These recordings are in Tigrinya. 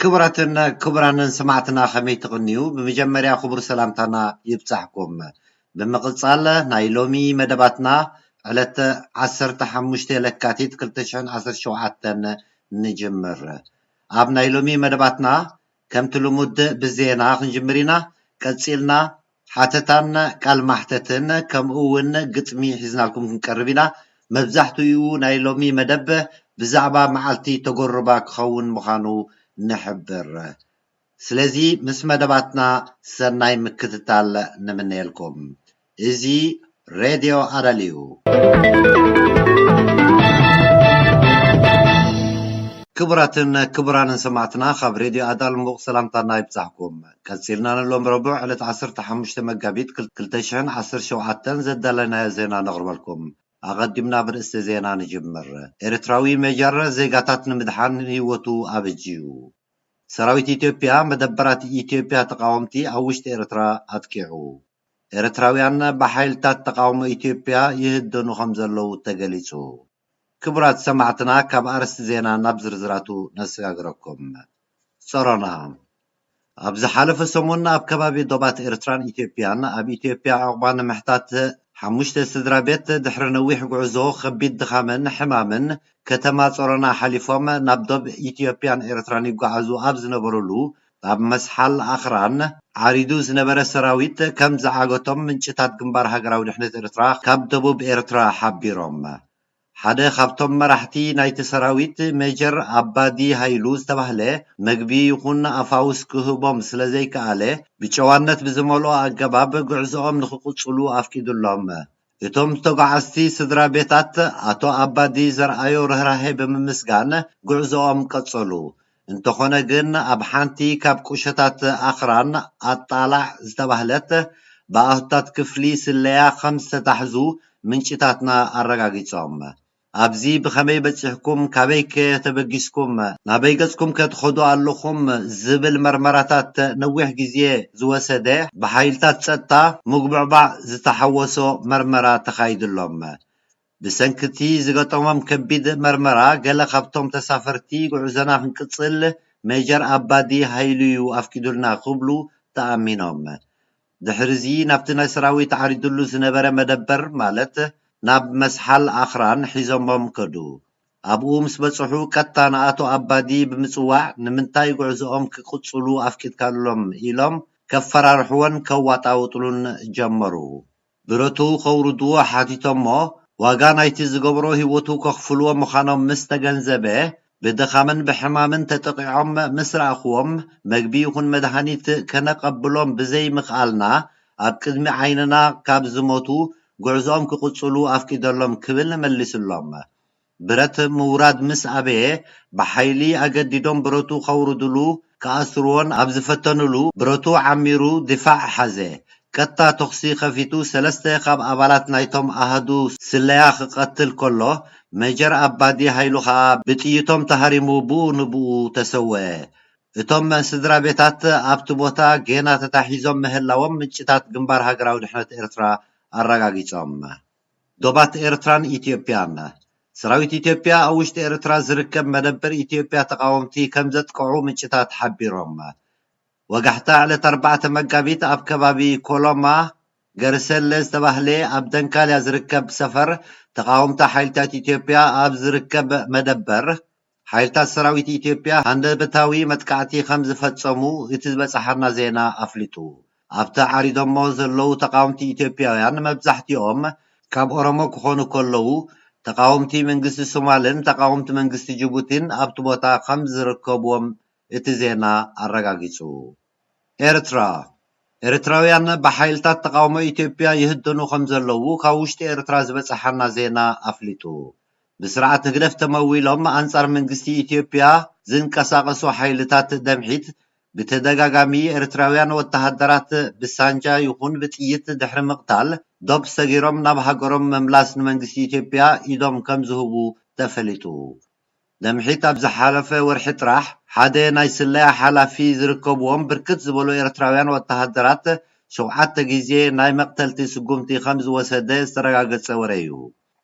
ክቡራትን ክቡራንን ሰማዕትና ከመይ ትቅንዩ ብመጀመርያ ክቡር ሰላምታና ይብጻሕኩም ብምቅጻል ናይ ሎሚ መደባትና ዕለት ዓሰርተ ሓሙሽተ ለካቲት ክልተ ሽሕን ዓሰርተ ሸውዓተን ንጅምር ኣብ ናይ ሎሚ መደባትና ከምቲ ልሙድ ብዜና ክንጅምር ኢና ቀጺልና ሓተታን ቃል ማሕተትን ከምኡ ውን ግጥሚ ሒዝናልኩም ክንቀርብ ኢና። መብዛሕትኡ ናይ ሎሚ መደብ ብዛዕባ መዓልቲ ተጎርባ ክኸውን ምኻኑ ንሕብር። ስለዚ ምስ መደባትና ሰናይ ምክትታል ንምነየልኩም። እዚ ሬድዮ ዓረል'ዩ። ክቡራትን ክቡራንን ሰማዕትና ካብ ሬድዮ ኣዳል ሙቕ ሰላምታና ይብጻሕኩም። ቀጺልና ንሎም ረቡዕ ዕለት ዓሰርተ ሓሙሽተ መጋቢት ክልተ ሽሕን ዓሰርተ ሸውዓተን ዘዳለናዮ ዜና ነቕርበልኩም። ኣቐዲምና ብርእስተ ዜና ንጅምር። ኤርትራዊ ሜጀር ዜጋታት ንምድሓን ህይወቱ ኣበጅዩ። ሰራዊት ኢትዮጵያ መደበራት ኢትዮጵያ ተቓወምቲ ኣብ ውሽጢ ኤርትራ ኣጥቂዑ። ኤርትራውያን ብሓይልታት ተቓውሞ ኢትዮጵያ ይህደኑ ከምዘለዉ ተገሊጹ። ክቡራት ሰማዕትና ካብ ኣርእስቲ ዜና ናብ ዝርዝራቱ ነሰጋግረኩም። ጸሮና ኣብ ዝሓለፈ ሰሙን ኣብ ከባቢ ዶባት ኤርትራን ኢትዮጵያን ኣብ ኢትዮጵያ ዑቕባ ንምሕታት ሓሙሽተ ስድራ ቤት ድሕሪ ነዊሕ ጉዕዞ ከቢድ ድኻምን ሕማምን ከተማ ጸሮና ሓሊፎም ናብ ዶብ ኢትዮጵያን ኤርትራን ይጓዓዙ ኣብ ዝነበሩሉ ኣብ መስሓል ኣኽራን ዓሪዱ ዝነበረ ሰራዊት ከም ዝዓገቶም ምንጭታት ግንባር ሃገራዊ ድሕነት ኤርትራ ካብ ደቡብ ኤርትራ ሓቢሮም። ሓደ ካብቶም መራሕቲ ናይቲ ሰራዊት ሜጀር ኣባዲ ሃይሉ ዝተባህለ መግቢ ይኹን ኣፋውስ ክህቦም ስለ ዘይከኣለ ብጨዋነት ብዝመልኦ ኣገባብ ጉዕዞኦም ንኽቕጽሉ ኣፍቂዱሎም እቶም ተጓዓዝቲ ስድራ ቤታት ኣቶ ኣባዲ ዘርኣዮ ርህራሄ ብምምስጋን ጉዕዞኦም ቀጸሉ። እንተኾነ ግን ኣብ ሓንቲ ካብ ቁሸታት ኣኽራን ኣጣላዕ ዝተባህለት ብኣሃዱታት ክፍሊ ስለያ ከም ዝተታሕዙ ምንጭታትና ኣረጋጊጾም። ኣብዚ ብኸመይ በጺሕኩም፣ ካበይከ ተበጊስኩም፣ ናበይ ገጽኩም ከ ትኸዱ ኣለኹም ዝብል መርመራታት ነዊሕ ግዜ ዝወሰደ ብሓይልታት ጸጥታ ምጉብዕባዕ ዝተሓወሶ መርመራ ተኻይድሎም። ብሰንኪ'ቲ ዝገጠሞም ከቢድ መርመራ ገለ ካብቶም ተሳፈርቲ ጉዕዞና ክንቅጽል ሜጀር ኣባዲ ሃይሉ'ዩ ኣፍቂዱልና ክብሉ ተኣሚኖም። ድሕሪዚ ናብቲ ናይ ሰራዊት ዓሪዱሉ ዝነበረ መደበር ማለት ናብ መስሓል ኣኽራን ሒዞሞም ከዱ። ኣብኡ ምስ በጽሑ ቀጥታ ንኣቶ ኣባዲ ብምጽዋዕ ንምንታይ ጉዕዞኦም ክቅጽሉ ኣፍቂድካሎም ኢሎም ከፈራርሕዎን ከዋጣውጥሉን ጀመሩ። ብረቱ ከውርድዎ ሓቲቶሞ ዋጋ ናይቲ ዝገበሮ ህይወቱ ከኽፍልዎ ምኻኖም ምስ ተገንዘበ ብድኻምን ብሕማምን ተጠቒዖም ምስ ረኣኹዎም፣ መግቢ ይኹን መድሃኒት ከነቐብሎም ብዘይ ምኽኣልና፣ ኣብ ቅድሚ ዓይንና ካብ ዝሞቱ፣ ጉዕዞኦም ክቕጽሉ ኣፍቂደሎም ክብል መሊስሎም። ብረት ምውራድ ምስ ኣበየ፣ ብሓይሊ ኣገዲዶም ብረቱ ከውርድሉ ክኣስርዎን ኣብ ዝፈተንሉ ብረቱ ዓሚሩ ዲፋዕ ሓዘ። ቀጥታ ተኹሲ ከፊቱ ሰለስተ ካብ ኣባላት ናይቶም ኣሃዱ ስለያ ክቐትል ከሎ፣ ሜጀር ኣባዲ ሃይሉ ከኣ ብጥይቶም ተሃሪሙ ብኡ ንብኡ ተሰወኤ። እቶም ስድራቤታት ኣብቲ ቦታ ጌና ተታሒዞም ምህላዎም ምንጭታት ግንባር ሃገራዊ ድሕነት ኤርትራ ኣረጋጊጾም። ዶባት ኤርትራን ኢትዮጵያን፣ ሰራዊት ኢትዮጵያ ኣብ ውሽጢ ኤርትራ ዝርከብ መደበር ኢትዮጵያ ተቓወምቲ ከምዘጥቅዑ ምንጭታት ሓቢሮም። ወጋሕታ፣ ዕለት ኣርባዕተ መጋቢት ኣብ ከባቢ ኮሎማ ገርሰለ ዝተባህለ ኣብ ደንካልያ ዝርከብ ሰፈር ተቓወምቲ ሓይልታት ኢትዮጵያ ኣብ ዝርከብ መደበር፣ ሓይልታት ሰራዊት ኢትዮጵያ ሃንደበታዊ መጥቃዕቲ ከም ዝፈጸሙ እቲ ዝበጸሓና ዜና ኣፍሊጡ። ኣብቲ ዓሪዶሞ ዘለዉ ተቓወምቲ ኢትዮጵያውያን መብዛሕትኦም ካብ ኦሮሞ ክኾኑ ከለዉ፣ ተቓወምቲ መንግስቲ ሶማልን ተቓወምቲ መንግስቲ ጅቡቲን ኣብቲ ቦታ ከም ዝርከቡዎም እቲ ዜና ኣረጋጊጹ። ኤርትራ፣ ኤርትራውያን ብሓይልታት ተቓውሞ ኢትዮጵያ ይህደኑ ከምዘለዉ ካብ ውሽጢ ኤርትራ ዝበጸሓና ዜና ኣፍሊጡ። ብስርዓት ህግደፍ ተመዊሎም ኣንጻር መንግስቲ ኢትዮጵያ ዝንቀሳቐሱ ሓይልታት ደምሒት ብተደጋጋሚ ኤርትራውያን ወተሃደራት ብሳንጃ ይኹን ብጥይት ድሕሪ ምቕታል ዶብ ሰጊሮም ናብ ሃገሮም ምምላስ ንመንግስቲ ኢትዮጵያ ኢዶም ከምዝህቡ ተፈሊጡ። ለምሒት ኣብ ዝሓለፈ ወርሒ ጥራሕ ሓደ ናይ ስለያ ሓላፊ ዝርከብዎም ብርክት ዝበሉ ኤርትራውያን ወተሃደራት ሸውዓተ ግዜ ናይ መቕተልቲ ስጉምቲ ከም ዝወሰደ ዝተረጋገጸ ወረ'ዩ።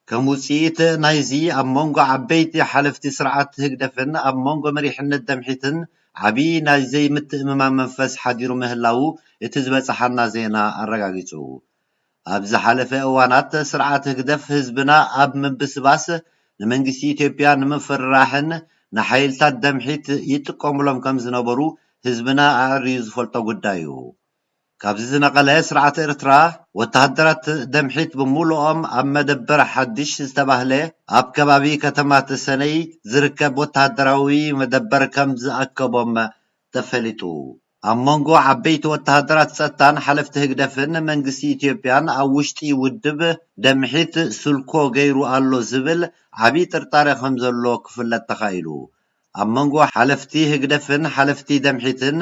ከም ውጽኢት ናይዚ ኣብ መንጎ ዓበይቲ ሓለፍቲ ስርዓት ህግደፍን ኣብ መንጎ መሪሕነት ደምሒትን ዓቢ ናይ ዘይምትእምማን መንፈስ ሓዲሩ ምህላዉ እቲ ዝበጸሓና ዜና ኣረጋጊጹ። ኣብ ዝሓለፈ እዋናት ስርዓት ህግደፍ ህዝብና ኣብ ምብስባስ፣ ንመንግስቲ ኢትዮጵያ ንምፍርራሕን ንሓይልታት ደምሒት ይጥቀሙሎም ከም ዝነበሩ ህዝብና ኣዐርዩ ዝፈልጦ ጉዳይ'ዩ። ካብዚ ዝነቐለ ስርዓት ኤርትራ፣ ወተሃደራት ደምሒት ብምሉኦም ኣብ መደበር ሓድሽ ዝተባህለ ኣብ ከባቢ ከተማ ተሰነይ ዝርከብ ወተሃደራዊ መደበር ከም ዝኣከቦም ተፈሊጡ። ኣብ መንጎ ዓበይቲ ወተሃደራት ጸጥታን ሓለፍቲ ህግደፍን መንግስቲ ኢትዮጵያን ኣብ ውሽጢ ውድብ ደምሒት ስልኮ ገይሩ ኣሎ ዝብል ዓቢ ጥርጣረ ከምዘሎ ክፍለጥ ተኻኢሉ። ኣብ መንጎ ሓለፍቲ ህግደፍን ሓለፍቲ ደምሒትን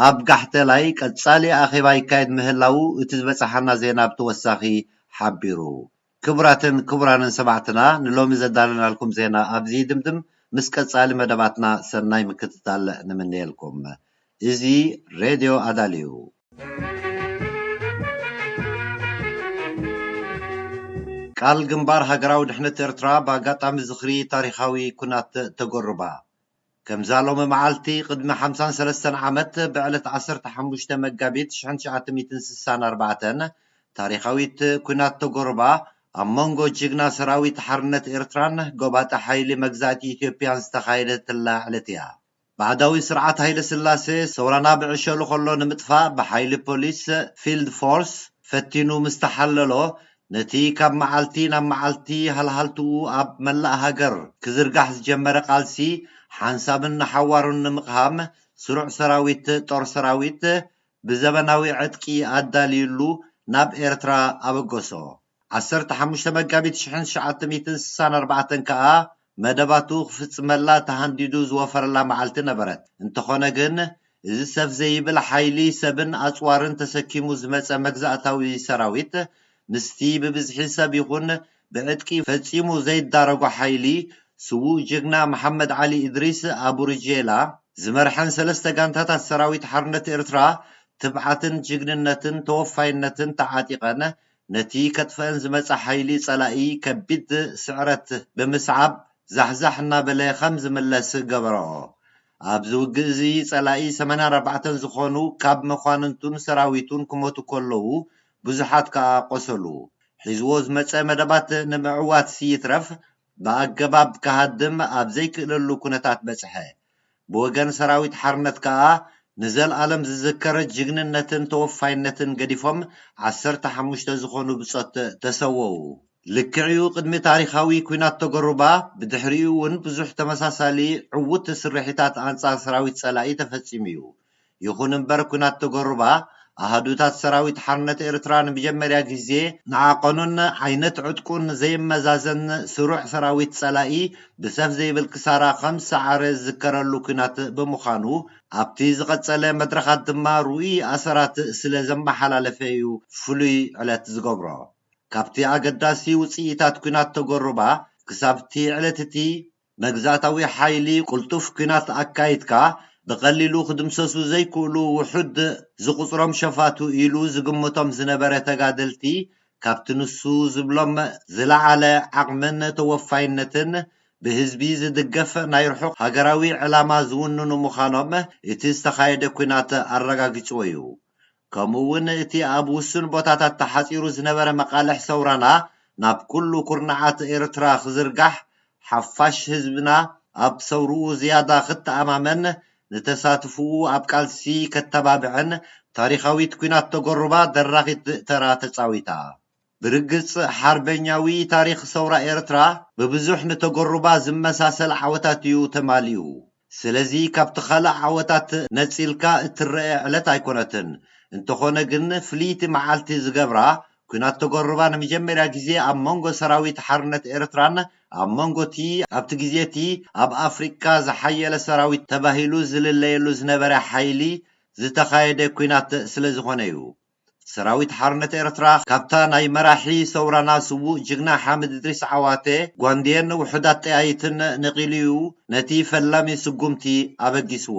ኣብ ጋሕተላይ ቀጻሊ ኣኼባ ይካየድ ምህላዉ እቲ ዝበጸሓና ዜና ብተወሳኺ ሓቢሩ። ክቡራትን ክቡራንን ሰማዕትና ንሎሚ ዘዳለናልኩም ዜና ኣብዚ ይድምድም ምስ ቀጻሊ መደባትና ሰናይ ምክትታል ንምነየልኩም። እዚ ሬድዮ ኣዳል እዩ። ቃል ግንባር ሃገራዊ ድሕነት ኤርትራ ብኣጋጣሚ ዝኽሪ ታሪኻዊ ኩናት ተጎርባ ከምዛ ሎሚ መዓልቲ ቅድሚ ሓምሳን ሰለስተን ዓመት ብዕለት ዓሰርተ ሓሙሽተ መጋቢት ሽሕን ትሽዓተ ሚእትን ስሳን ኣርባዕተን ታሪኻዊት ኩናት ቶጎሩባ ኣብ መንጎ ጅግና ሰራዊት ሓርነት ኤርትራን ጎባጢ ሓይሊ መግዛእቲ ኢትዮጵያን ዝተኻየደትላ ዕለት እያ። ባዕዳዊ ስርዓት ሃይለስላሴ ሰውራና ብዕሸሉ ከሎ ንምጥፋእ ብሓይሊ ፖሊስ፣ ፊልድ ፎርስ፣ ፈቲኑ ምስ ተሓለሎ ነቲ ካብ መዓልቲ ናብ መዓልቲ ሃልሃልትኡ ኣብ መላእ ሃገር ክዝርጋሕ ዝጀመረ ቃልሲ ሓንሳብን ንሓዋሩን ንምቕሃም ስሩዕ ሰራዊት፣ ጦር ሰራዊት፣ ብዘበናዊ ዕጥቂ ኣዳልዩሉ ናብ ኤርትራ ኣበገሶ። ዓሰርተ ሓሙሽተ መጋቢት ሽሕን ትሽዓተ ሚእትን ስሳን ኣርባዕተን ከኣ መደባቱ ክፍጽመላ ተሃንዲዱ ዝወፈረላ መዓልቲ ነበረት። እንተኾነ ግን እዚ ሰፍ ዘይብል ሓይሊ ሰብን ኣጽዋርን ተሰኪሙ ዝመጸ መግዛእታዊ ሰራዊት ምስቲ ብብዝሒ ሰብ ይኹን ብዕጥቂ ፈጺሙ ዘይዳረጎ ሓይሊ ስዉእ ጅግና መሓመድ ዓሊ እድሪስ፣ ኣቡርጄላ፣ ዝመርሐን ሰለስተ ጋንታታት ሰራዊት ሓርነት ኤርትራ ትብዓትን ጅግንነትን ተወፋይነትን ተዓጢቐን ነቲ ከጥፍኣን ዝመጸ ሓይሊ ጸላኢ ከቢድ ስዕረት ብምስዓብ ዛሕዛሕ እናበለ ከም ዝምለስ ገበርኦ። ኣብዚ ውግእ እዚ ጸላኢ ሰማንያ ኣርባዕተ ዝኾኑ ካብ መኳንንቱን ሰራዊቱን ክሞቱ ከለዉ ብዙሓት ከኣ ቆሰሉ። ሒዝዎ ዝመጸ መደባት ንምዕዋት ይትረፍ ብኣገባብ ክሃድም ኣብ ዘይክእለሉ ኩነታት በጽሐ። ብወገን ሰራዊት ሓርነት ከኣ ንዘልኣለም ዝዝከር ጅግንነትን ተወፋይነትን ገዲፎም ዓሰርተ ሓሙሽተ ዝኾኑ ብጾት ተሰወኡ። ልክዕ'ዩ ቅድሚ ታሪኻዊ ኩናት ቶጎሩባ ብድሕሪኡ'ውን ብዙሕ ተመሳሳሊ ዕዉት ስርሒታት ኣንጻር ሰራዊት ጸላኢ ተፈጺሙ'ዩ። ይኹን እምበር ኲናት ተጎሩባ፣ ኣሃዱታት ሰራዊት ሓርነት ኤርትራ ንመጀመርያ ግዜ፣ ንዓቐኑን ዓይነት ዕጥቁን ዘይመዛዘን ስሩዕ ሰራዊት ጸላኢ ብሰፍ ዘይብል ክሳራ ከም ዝሰዓረ ዝዝከረሉ ኲናት ብምዃኑ፣ ኣብቲ ዝቐጸለ መድረኻት ድማ ርኡይ ኣሰራት ስለ ዘመሓላለፈ'ዩ ፍሉይ ዕለት ዝገብሮ። ካብቲ ኣገዳሲ ውጽኢታት ኲናት ተጎሩባ፣ ክሳብ'ቲ ዕለት'ቲ፣ መግዛእታዊ ሓይሊ ቅልጡፍ ኲናት ኣካይድካ ብቐሊሉ ክድምሰሱ ዘይክእሉ ውሑድ ዝቑጽሮም ሸፋቱ ኢሉ ዝግምቶም ዝነበረ ተጋደልቲ ካብቲ ንሱ ዝብሎም ዝለዓለ ዓቕምን ተወፋይነትን ብህዝቢ ዝድገፍ ናይ ርሑቕ ሃገራዊ ዕላማ ዝውንኑ ምዃኖም እቲ ዝተኻየደ ኲናት ኣረጋጊጽዎ እዩ። ከምኡ እውን እቲ ኣብ ውሱን ቦታታት ተሓጺሩ ዝነበረ መቓልሕ ሰውራና ናብ ኩሉ ኩርናዓት ኤርትራ ክዝርጋሕ፣ ሓፋሽ ህዝብና ኣብ ሰውርኡ ዝያዳ ክተኣማመን፣ ንተሳትፍኡ ኣብ ቃልሲ ከተባብዕን ታሪኻዊት ኩናት ተጎሩባ ደራኺት ተራ ተጻዊታ። ብርግጽ ሓርበኛዊ ታሪኽ ሰውራ ኤርትራ ብብዙሕ ንተገሩባ ዝመሳሰል ዓወታት'ዩ ተማሊኡ። ስለዚ ካብቲ ካልእ ዓወታት ነጺልካ እትረኤ ዕለት ኣይኮነትን። እንተኾነ ግን ፍልይቲ መዓልቲ ዝገብራ፣ ኩናት ተገሩባ ንመጀመርያ ግዜ ኣብ መንጎ ሰራዊት ሓርነት ኤርትራን ኣብ መንጎ'ቲ ኣብቲ ግዜ'ቲ ኣብ ኣፍሪቃ ዝሓየለ ሰራዊት ተባሂሉ ዝልለየሉ ዝነበረ ሓይሊ ዝተኻየደ ኩናት ስለዝኾነ'ዩ። ሰራዊት ሓርነት ኤርትራ ካብታ ናይ መራሒ ሰውራና ስዉእ ጅግና ሓምድ እድሪስ ዓዋተ ጓንዴን ውሑዳት ጠያይትን ነቒሉ'ዩ ነቲ ፈላሚ ስጉምቲ ኣበጊስዎ።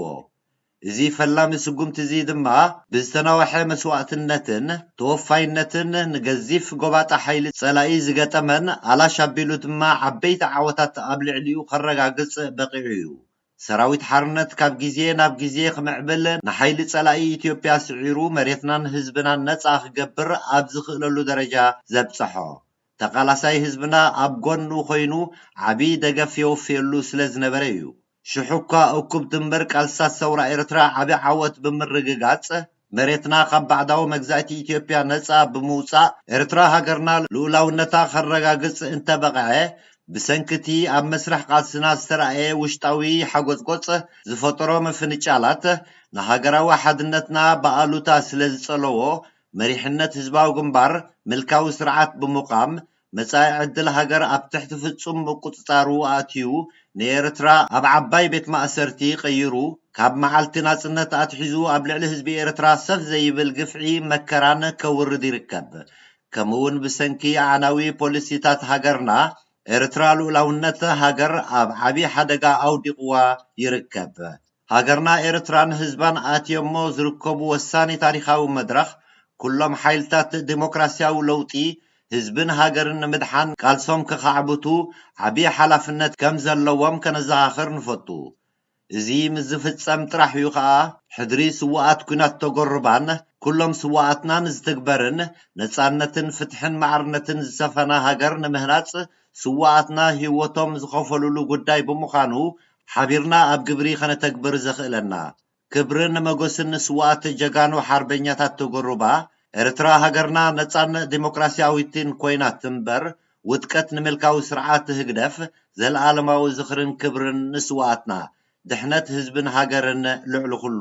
እዚ ፈላሚ ስጉምቲ'ዚ ድማ ብዝተናውሐ መስዋእትነትን ተወፋይነትን ንገዚፍ ጎባጣ ሓይሊ ጸላኢ ዝገጠመን ኣላሽ ኣቢሉ ድማ ዓበይቲ ዓወታት ኣብ ልዕሊኡ ከረጋግጽ በቒዑ'ዩ። ሰራዊት ሓርነት ካብ ግዜ ናብ ግዜ ክምዕብል ንሓይሊ ጸላኢ ኢትዮጵያ ስዒሩ መሬትናን ህዝብናን ነጻ ክገብር ኣብ ዝኽእለሉ ደረጃ ዘብጸሖ ተቃላሳይ ህዝብና ኣብ ጎኑ ኮይኑ ዓቢ ደገፍ የወፍየሉ ስለ ዝነበረ እዩ ሽሕ'ኳ እኩብ ድምር ቃልስታት ሰውራ ኤርትራ ዓቢ ዓወት ብምርግጋጽ መሬትና ካብ ባዕዳዊ መግዛእቲ ኢትዮጵያ ነጻ ብምውጻእ ኤርትራ ሃገርና ልኡላውነታ ከረጋግጽ እንተበቐዐ፣ ብሰንኪ'ቲ ኣብ መስርሕ ቃልስና ዝተራእየ ውሽጣዊ ሓጎጽጎጽ ዝፈጠሮ ምፍንጫላት፣ ንሃገራዊ ሓድነትና ብኣሉታ ስለዝጸለዎ፣ መሪሕነት ህዝባዊ ግንባር ምልካዊ ስርዓት ብምቛም መጻኢ ዕድል ሃገር ኣብ ትሕቲ ፍጹም ምቁጽጻሩ ኣእትዩ ንኤርትራ ኣብ ዓባይ ቤት ማእሰርቲ ቀይሩ ካብ መዓልቲ ናጽነት ኣትሒዙ ኣብ ልዕሊ ህዝቢ ኤርትራ ሰፍ ዘይብል ግፍዒ መከራን ከውርድ ይርከብ ከምእውን ብሰንኪ ኣዕናዊ ፖሊሲታት ሃገርና ኤርትራ ሉኡላውነት ሃገር ኣብ ዓቢ ሓደጋ ኣውዲቅዋ ይርከብ። ሃገርና ኤርትራን ህዝባን ኣትዮሞ ዝርከቡ ወሳኒ ታሪኻዊ መድረኽ፣ ኩሎም ሓይልታት ደሞክራሲያዊ ለውጢ፣ ህዝብን ሃገርን ንምድሓን ቃልሶም ከኻዕብቱ ዓቢ ሓላፍነት ከም ዘለዎም ከነዘኻኽር ንፈቱ። እዚ ምስ ዝፍጸም ጥራሕ እዩ ከኣ ሕድሪ ስዉኣት ኲናት ተጎርባን ኩሎም ስዉኣትናን ዝትግበርን፣ ነጻነትን ፍትሕን ማዕርነትን ዝሰፈና ሃገር ንምህናጽ ስዉኣትና ሂወቶም ዝኸፈሉሉ ጉዳይ ብምዃኑ ሓቢርና ኣብ ግብሪ ከነተግብር ዘኽእለና። ክብርን መጎስን ንስዋኣት ጀጋኑ ሓርበኛታት ተጎሩባ ኤርትራ ሃገርና ነጻን ዲሞክራሲያዊትን ኮይና ትንበር ውድቀት ንምልካዊ ስርዓት ህግደፍ ዘልኣለማዊ ዝኽርን ክብርን ንስዋኣትና ድሕነት ህዝብን ሃገርን ልዕሊ ኩሉ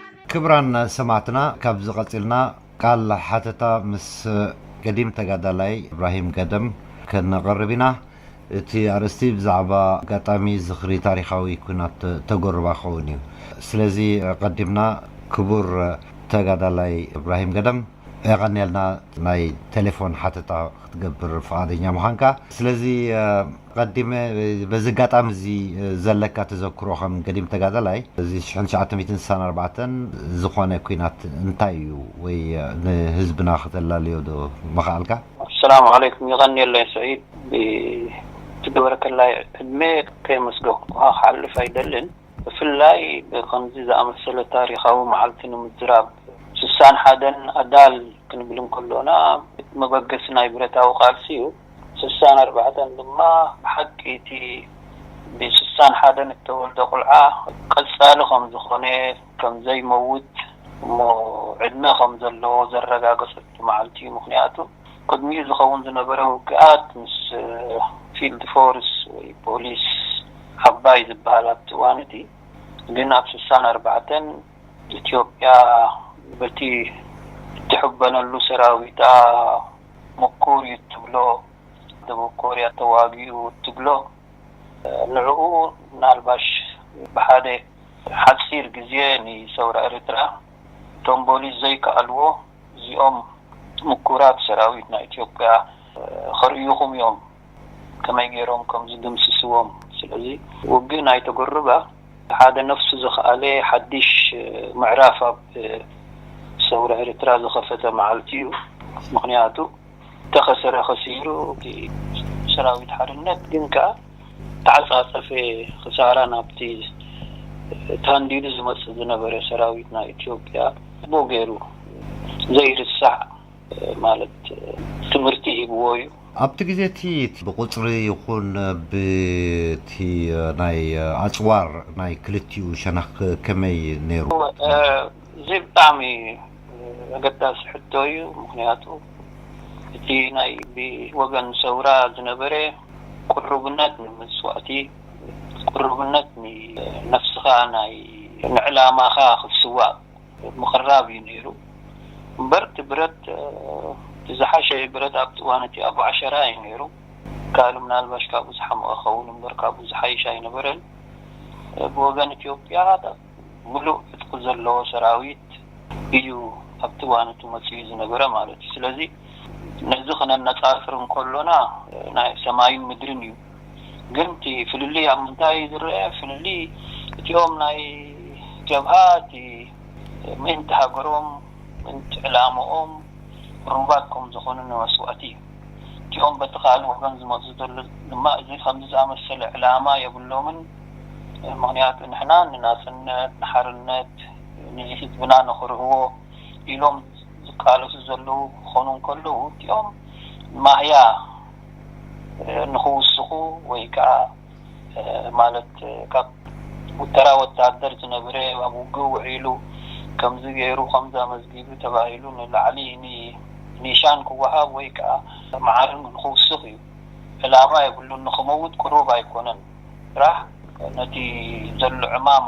ክብራን ሰማዕትና ካብዚ ቀጺልና ቃል ሓተታ ምስ ገዲም ተጋዳላይ እብራሂም ገደም ከነቕርብ ኢና። እቲ ኣርእስቲ ብዛዕባ ኣጋጣሚ ዝኽሪ ታሪኻዊ ኩናት ተጎርባ ክኸውን እዩ። ስለዚ ኣቐዲምና ክቡር ተጋዳላይ እብራሂም ገደም የቐንየልና ናይ ተሌፎን ሓተታ ክትገብር ፍቓደኛ ምዃንካ። ስለዚ ቐዲመ በዚ ኣጋጣሚ እዚ ዘለካ ተዘክሮ ከም ገዲም ተጋዳላይ እዚ ሽሕን ትሽዓተ ሚእትን ስሳን ኣርባዕተን ዝኾነ ኩናት እንታይ እዩ ወይ ንህዝብና ከተላልዮ ዶ ምኻኣልካ? ኣሰላሙ ዓለይኩም የቐንየለይ ስዒድ ብትገበረከላይ ዕድሜ ከየመስገንኩኻ ክሓልፍ ኣይደልን ብፍላይ ብኸምዚ ዝኣመሰለ ታሪኻዊ መዓልቲ ንምዝራብ ስሳን ሓደን ኣዳል ክንብል እንከሎና እቲ መበገሲ ናይ ብረታዊ ቃልሲ እዩ ስሳን ኣርባዕተን ድማ ብሓቂ እቲ ብስሳን ሓደን እተወልደ ቁልዓ ቀጻሊ ከም ዝዀነ፣ ከም ዘይመውት እሞ ዕድመ ከም ዘለዎ ዘረጋገጸሉ መዓልቲ እዩ፣ ምኽንያቱ ቅድሚኡ ዝኸውን ዝነበረ ውግኣት ምስ ፊልድ ፎርስ ወይ ፖሊስ ዓባይ ዝበሃል ኣብቲ እዋን እቲ ግን ኣብ ስሳን ኣርባዕተን ኢትዮጵያ በቲ እትሕበነሉ ሰራዊታ፣ ሙኩር እዩ እትብሎ ደቡብ ኮርያ ተዋጊኡ እትብሎ ንዕኡ ምናልባሽ ብሓደ ሓጺር ግዜ ንሰውራ ኤርትራ ደምበሉ ዘይከኣልዎ እዚኦም ሙኩራት ሰራዊት ናይ ኢትዮጵያ ከርእዩኹም እዮም። ከመይ ጌሮም ከም ዝድምስስዎም ስለዚ ውግእ ናይ ቶጎሩባ ሓደ ነፍሱ ዝኸኣለ ሓዲሽ ምዕራፍ ኣብ ሰውራ ኤርትራ ዝኸፈተ መዓልቲ እዩ ምኽንያቱ ተኸሰረ ከሲሩ እቲ ሰራዊት ሓርነት ግን ከኣ ተዓጻጸፈ ክሳራ ናብቲ ታንዲዱ ዝመጽእ ዝነበረ ሰራዊት ናይ ኢትዮጵያ ጽቡቕ ጌሩ ዘይርሳዕ ማለት ትምህርቲ ሂብዎ እዩ። ኣብቲ ግዜ እቲ ብቑጽሪ ይኹን ብቲ ናይ ኣጽዋር ናይ ክልቲኡ ሸነኽ ከመይ ነይሩ? እዚ ብጣዕሚ ኣገዳሲ ሕቶ እዩ። ምኽንያቱ እቲ ናይ ብወገን ሰውራ ዝነበረ ቅሩብነት ንመስዋእቲ፣ ቅሩብነት ንነፍስኻ ናይ ንዕላማኻ ክትስዋእ፣ ምቅራብ እዩ ነይሩ እምበር እቲ ብረት እቲ ዝሓሸ ብረት ኣብቲ እዋን እቲ ኣቡ ዓሸራ እዩ ነይሩ ይከኣል ምናልባሽ ካብኡ ዝሓመቀ ክኸውን እምበር ካብኡ ዝሓይሽ ኣይነበረን ብወገን ኢትዮጵያ ምሉእ ዕጥቂ ዘለዎ ሰራዊት እዩ ኣብቲ እዋን እቲ መፂኡ ዝነበረ ማለት እዩ ስለዚ ነዚ ክነነፃፅር እንከሎና ናይ ሰማይን ምድርን እዩ። ግን እቲ ፍልልይ ኣብ ምንታይ እዩ ዝረኣ ፍልልይ እቲኦም ናይ ጀብሃ እቲ ምእንቲ ሃገሮም ምእንቲ ዕላምኦም ርሁባት ከም ዝኾኑ ንመስዋእቲ እዩ እቲኦም በቲ ካልእ ወገን ዝመጹ ዘሎ ድማ እዚ ከምዚ ዝኣመሰለ ዕላማ የብሎምን ምኽንያቱ ንሕና ንናጽነት ንሓርነት ንህዝብና ንኽርህዎ ኢሎም ዝቃለሱ ዘለዉ ክኾኑ እንከለዉ እቲኦም ማህያ ንኽውስኹ ወይ ከኣ ማለት ካብ ተራ ወተሃደር ዝነበረ ኣብ ውግእ ውዒሉ ከምዚ ገይሩ ከምዚ ኣመዝጊቡ ተባሂሉ ንላዕሊ ኒሻን ክወሃብ ወይ ከኣ መዓርግ ንኽውስኽ እዩ። ዕላማ የብሉን ንኽመውት ቅሩብ ኣይኮነን ጥራሕ ነቲ ዘሎ ዕማም።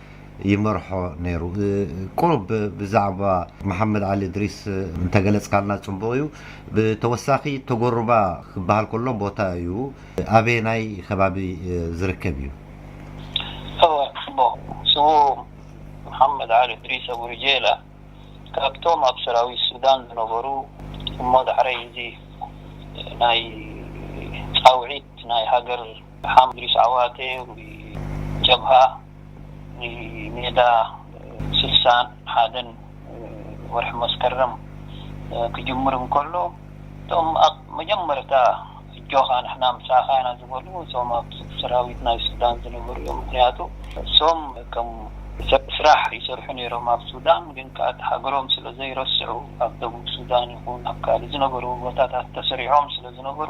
ይመርሖ ነይሩ ቁሩብ ብዛዕባ መሓመድ ዓሊ እድሪስ እንተገለጽካልና ጽቡቕ እዩ ብተወሳኺ ቶጎሩባ ክበሃል ከሎ ቦታ እዩ ኣበየናይ ከባቢ ዝርከብ እዩ እወ ጽቡቕ ስዉእ መሓመድ ዓሊ እድሪስ ኣቡርጀላ ካብቶም ኣብ ሰራዊት ሱዳን ዝነበሩ እሞ ዳሕረይ እዚ ናይ ጻውዒት ናይ ሃገር ሓምድሪስ ዓዋተ ንጀብሃ ንሜዳ ስሳን ሓደን ወርሒ መስከረም ክጅምር እንከሎ እቶም ኣብ መጀመርታ ኣጆኻ ንሕና ምሳኻ ኢና ዝበሉ እቶም ኣብ ሰራዊት ናይ ሱዳን ዝነበሩ እዮም። ምኽንያቱ እሶም ከም ስራሕ ይሰርሑ ነይሮም ኣብ ሱዳን ግን ከኣ እታ ሃገሮም ስለ ዘይረስዑ ኣብ ደቡብ ሱዳን ይኹን ኣብ ካልእ ዝነበሩ ቦታታት ተሰሪዖም ስለ ዝነበሩ፣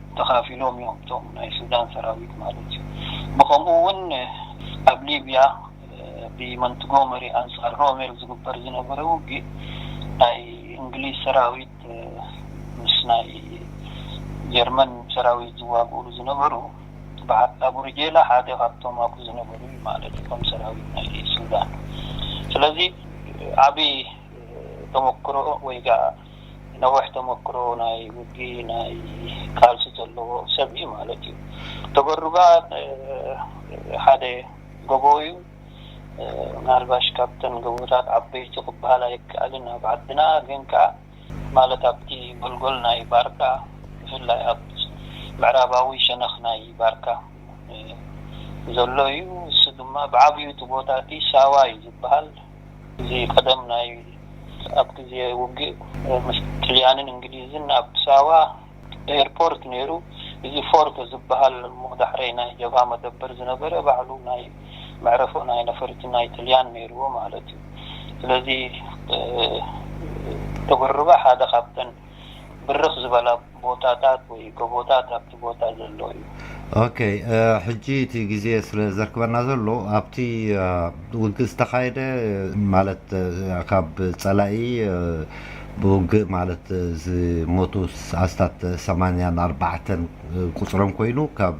ተኻፊሎም እዮም እቶም ናይ ሱዳን ሰራዊት ማለት እዩ ብኸምኡ እውን ኣብ ሊብያ ብመንትጎመሪ ኣንጻር ሮሜል ዝግበር ዝነበረ ውግእ ናይ እንግሊዝ ሰራዊት ምስ ናይ ጀርመን ሰራዊት ዝዋግኡሉ ዝነበሩ በዓል ኣቡርጄላ ሓደ ካብቶም ኣብኡ ዝነበሩ እዩ ማለት እዩ ከም ሰራዊት ናይ ሱዳን ስለዚ ዓቢ ተመክሮ ወይ ነዊሕ ተመክሮ ናይ ውግእ ናይ ቃልሲ ዘለዎ ሰብ እዩ ማለት እዩ። ተበሩ ከኣ ሓደ ጎቦ እዩ። ምናልባሽ ካብተን ጎቦታት ዓበይቲ ክበሃል ኣይከኣልን ኣብ ዓድና ግን ከኣ ማለት ኣብቲ ጎልጎል ናይ ባርካ ብፍላይ ኣብ ምዕራባዊ ሸነኽ ናይ ባርካ ዘሎ እዩ። ንሱ ድማ ብዓቢኡ እቲ ቦታ እቲ ሳዋ እዩ ዝበሃል። እዚ ቀደም ናይ ኣብ ግዜ ውግእ ምስ ጥልያንን እንግሊዝን ኣብ ሳዋ ኤርፖርት ነይሩ እዚ ፎርቶ ዝብሃል እሞ ዳሕረይ ናይ ጀብሃ መደበር ዝነበረ ባዕሉ ናይ መዕረፎ ናይ ነፈርቲ ናይ ጥልያን ነይርዎ ማለት እዩ ስለዚ ዶብርባ ሓደ ካብተን ብርኽ ዝበላ ቦታታት ወይ ጎቦታት ኣብቲ ቦታ ዘሎ እዩ። ኦኬ ሕጂ እቲ ግዜ ስለ ዘርክበና ዘሎ ኣብቲ ውግእ ዝተኻየደ ማለት ካብ ጸላኢ ብውግእ ማለት ዝሞቱ ኣስታት ሰማንያን ኣርባዕተን ቁጽሮም ኮይኑ ካብ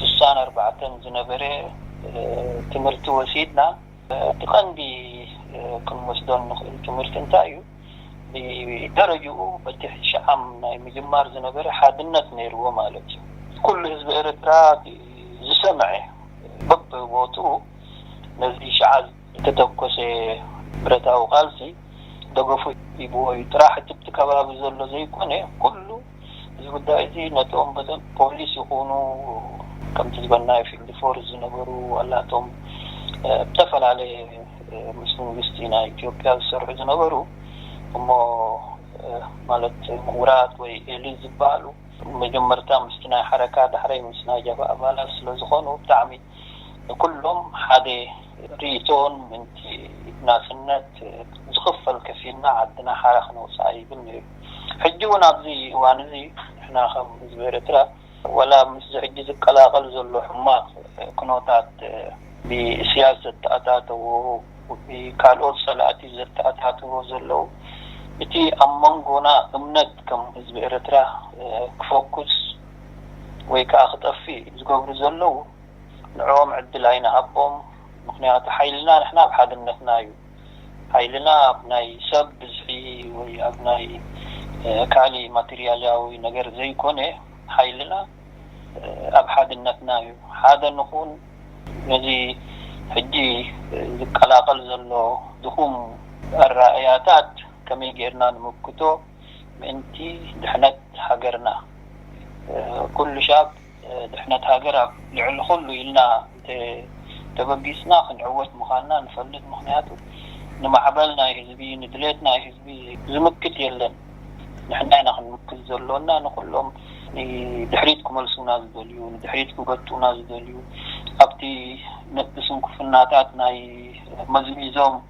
ስሳን ኣርባዕተን ዝነበረ ትምህርቲ ወሲድና እቲ ቀንዲ ክንወስዶ እንኽእል ትምህርቲ እንታይ እዩ? ብደረጅኡ በቲ ሽዓም ናይ ምጅማር ዝነበረ ሓድነት ነይርዎ ማለት እዩ። ኩሉ ህዝቢ ኤርትራ ዝሰመዐ በብቦትኡ ነዚ ሽዓ ዝተተኮሰ ብረታዊ ቃልሲ ደገፉ ሂብዎ እዩ። ጥራሕ እቲብቲ ከባቢ ዘሎ ዘይኮነ ኩሉ እዚ ጉዳይ እዚ ነቶም በዘን ፖሊስ ይኹኑ ከምቲ ዝበልናዮ ፊልድ ፎርስ ዝነበሩ ዋላ እቶም ኣብ ዝተፈላለየ ምስ መንግስቲ ናይ ኢትዮጵያ ዝሰርሑ ዝነበሩ እሞ ማለት ምሁራት ወይ ኤሊት ዝበሃሉ መጀመርታ ምስቲ ናይ ሓረካ ዳሕረይ ምስ ናይ ጀብሃ ኣባላት ስለዝኾኑ ብጣዕሚ ንኩሎም ሓደ ሪኢቶን ምእንቲ ናጽነት ዝኽፈል ከፊልና ዓድና ሓራ ክነውጽኣ ይብል ነይሩ ሕጂ ውን ኣብዚ እዋን እዚ ንሕና ከም ህዝቢ ኤረትራ ወላ ምስዚ ሕጂ ዝቀላቀል ዘሎ ሕማቅ ኩኖታት ብኢስያስ ዘተኣታተዎ ብካልኦት ጸላእቲ ዘተኣታትዎ ዘለው እቲ ኣብ መንጎና እምነት ከም ህዝቢ ኤረትራ ክፎኩስ ወይ ከኣ ክጠፍእ ዝገብሩ ዘለዉ ንዕኦም ዕድል ኣይንሃቦም ምኽንያቱ ሓይልና ንሕና ኣብ ሓድነትና እዩ ሓይልና ኣብ ናይ ሰብ ብዝሒ ወይ ኣብ ናይ ካሊእ ማትርያልያዊ ነገር ዘይኮነ ሓይልና ኣብ ሓድነትና እዩ ሓደ ንኹን ነዚ ሕጂ ዝቀላቐል ዘሎ ድኹም ኣረኣእያታት ከመይ ጌርና ንምክቶ ምእንቲ ድሕነት ሃገርና ኩሉ ሻብ ድሕነት ሃገር ኣብ ልዕሊ ኩሉ ኢልና እንተ ተበጊስና ክንዕወት ምኻንና ንፈልጥ ምኽንያቱ ንማዕበል ናይ ህዝቢ ንድሌት ናይ ህዝቢ ዝምክት የለን ንሕና ኢና ክንምክት ዘሎና ንኹሎም ንድሕሪት ክመልሱና ዝደልዩ ንድሕሪት ክጎቱና ዝደልዩ ኣብቲ ንስንኩፍናታት ናይ መዝሚዞም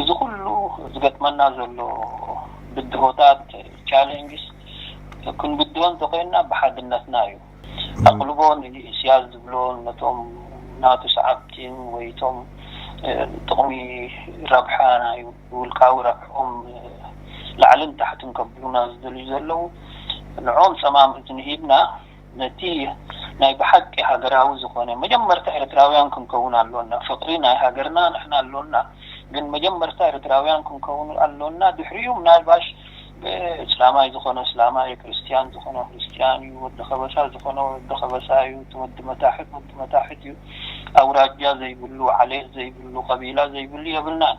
እዚ ኩሉ ዝገጥመና ዘሎ ብድሆታት፣ challenges፣ ክንብድሆ እንተኾይንና ብሓድነትና እዩ። ኣቕልቦ ንኢስያስ ዝብሎን ነቶም ናቱ ሰዓብቲን ወይ እቶም ጥቕሚ ረብሓ ናይ ውልቃዊ ረብሕኦም ላዕልን ታሕትን ከብሉና ዝደልዩ ዘለዉ ንዕኦም ጸማም እዝኒ ሂብና፣ ነቲ ናይ ብሓቂ ሃገራዊ ዝኾነ መጀመርታ ኤርትራውያን ክንከውን ኣሎና ፍቅሪ ናይ ሃገርና ንሕና ኣሎና ግን መጀመርታ ኤርትራውያን ክንከውን ኣሎና ድሕሪኡ ምናልባሽ እስላማይ ዝኾነ እስላማይ እዩ ክርስትያን ዝኾነ ክርስትያን እዩ ወዲ ከበሳ ዝኾነ ወዲ ከበሳ እዩ እቲ ወዲ መታሕት ወዲ መታሕት እዩ ኣውራጃ ዘይብሉ ዓሌት ዘይብሉ ቀቢላ ዘይብሉ የብልናን።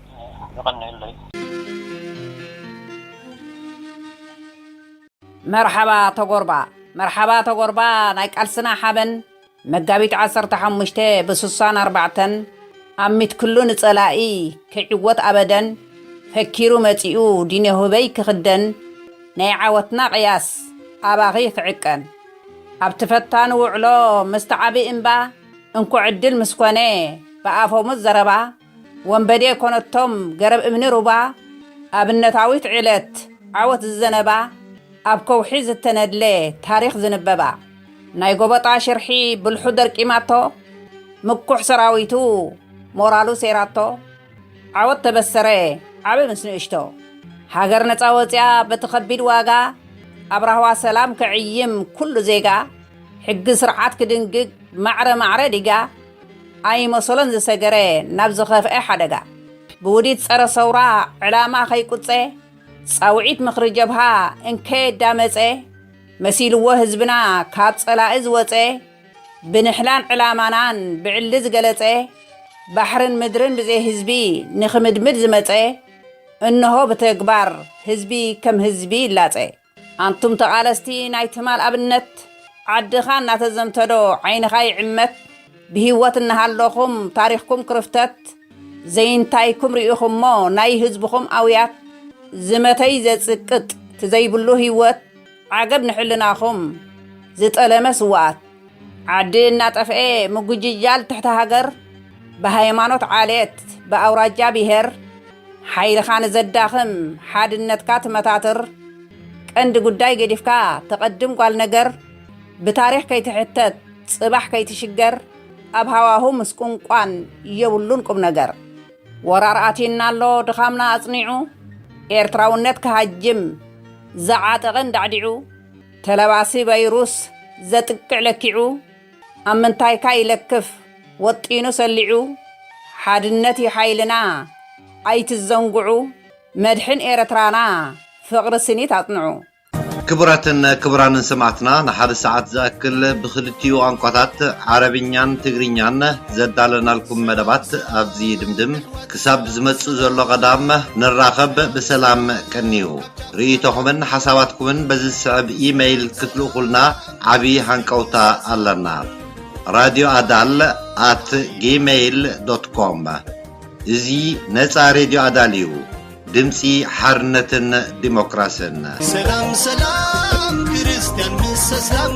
የቐንየለይ። መርሓባ ተጎርባ መርሓባ ተጎርባ ናይ ቃልስና ሓበን መጋቢት ዓሰርተ ሓሙሽተ ብሱሳን ኣርባዕተን ኣሚት ክሉ ንጸላኢ ከይዕወት ኣበደን ፈኪሩ መጺኡ ዲኔሁበይ ክኽደን ናይ ዓወትና ቅያስ ኣባኺ ክዕቀን ኣብቲ ፈታኒ ውዕሎ ምስቲ ዓቢ እምባ እንኮ ዕድል ምስ ኮነ ብኣፈሙዝ ዘረባ ወንበዴ ኮነቶም ገረብ እምኒ ሩባ ኣብነታዊት ዕለት ዓወት ዝዘነባ ኣብ ከውሒ ዝተነድለ ታሪኽ ዝንበባ ናይ ጎበጣ ሽርሒ ብልሑ ደርቂማቶ ምኩሕ ሰራዊቱ ሞራሉ ሰይራቶ ዓወት ተበሰረ ዓቢ ምስ ንእሽቶ ሃገር ነጻ ወጺኣ በቲ ከቢድ ዋጋ ኣብ ራህዋ ሰላም ክዕይም ኩሉ ዜጋ ሕጊ ስርዓት ክድንግግ ማዕረ ማዕረ ዲጋ ኣይመሰሎን ዝሰገረ ናብ ዝኸፍኤ ሓደጋ ብውዲት ጸረ ሰውራ ዕላማ ከይቁጸ ጻውዒት ምኽሪ ጀብሃ እንከ ዳመጸ መሲልዎ ህዝብና ካብ ጸላኢ ዝወጸ ብንሕላን ዕላማናን ብዕሊ ዝገለጸ ባሕርን ምድርን ብዘይ ህዝቢ ንኽምድምድ ዝመጸ እንሆ ብተግባር ህዝቢ ከም ህዝቢ ይላጸ። ኣንቱም ተቓለስቲ ናይ ትማል ኣብነት ዓድኻ እናተዘንተዶ ዓይንኻ ይዕመት ብሂወት እናሃለኹም ታሪኽኩም ክርፍተት ዘይንታይኩም ሪኢኹሞ ናይ ህዝብኹም ኣውያት ዝመተይ ዘጽቅጥ ትዘይብሉ ሂወት ዓገብ ንሕልናኹም ዝጠለመ ስውኣት ዓዲ እናጠፍኤ ምጉጅጃል ትሕቲ ሃገር ብሃይማኖት ዓሌት ብኣውራጃ ብሄር ሓይልኻ ንዘዳኽም ሓድነትካ ትመታትር ቀንዲ ጉዳይ ገዲፍካ ተቐድም ጓል ነገር ብታሪኽ ከይትሕተት ጽባሕ ከይትሽገር ኣብ ሃዋሁ ምስቁንቋን የብሉን ቁምነገር። ወራር ኣትዩና ኣሎ ድኻምና ኣጽኒዑ ኤርትራውነት ክሃጅም ዝዓጠቐ እንዳዕዲዑ። ተለባሲ ቫይሩስ ዘጥቅዕ ለኪዑ ኣብ ምንታይካ ይለክፍ ወጢኑ ሰሊዑ ሓድነት ዩ ሓይልና ኣይትዘንጉዑ መድሕን ኤረትራና ፍቅሪ ስኒት ኣጽንዑ። ክቡራትን ክቡራንን ሰማዕትና ንሓደ ሰዓት ዝኣክል ብኽልቲኡ ቛንቋታት ዓረብኛን ትግርኛን ዘዳለናልኩም መደባት ኣብዚ ይድምድም ክሳብ ዝመጽእ ዘሎ ቐዳም ንራኸብ ብሰላም ቀንዩ። ርእይቶኹምን ሓሳባትኩምን በዚ ዝስዕብ ኢመይል ክትልእኹልና ዓቢ ሃንቀውታ ኣለና ራድዮ ኣዳል ኣት ጊመይል ዶት ኮም እዚ ነጻ ሬድዮ ኣዳል እዩ ድምጺ ሓርነትን ዲሞክራስን ሰላም ሰላም ክርስቲያን ምስ እስላም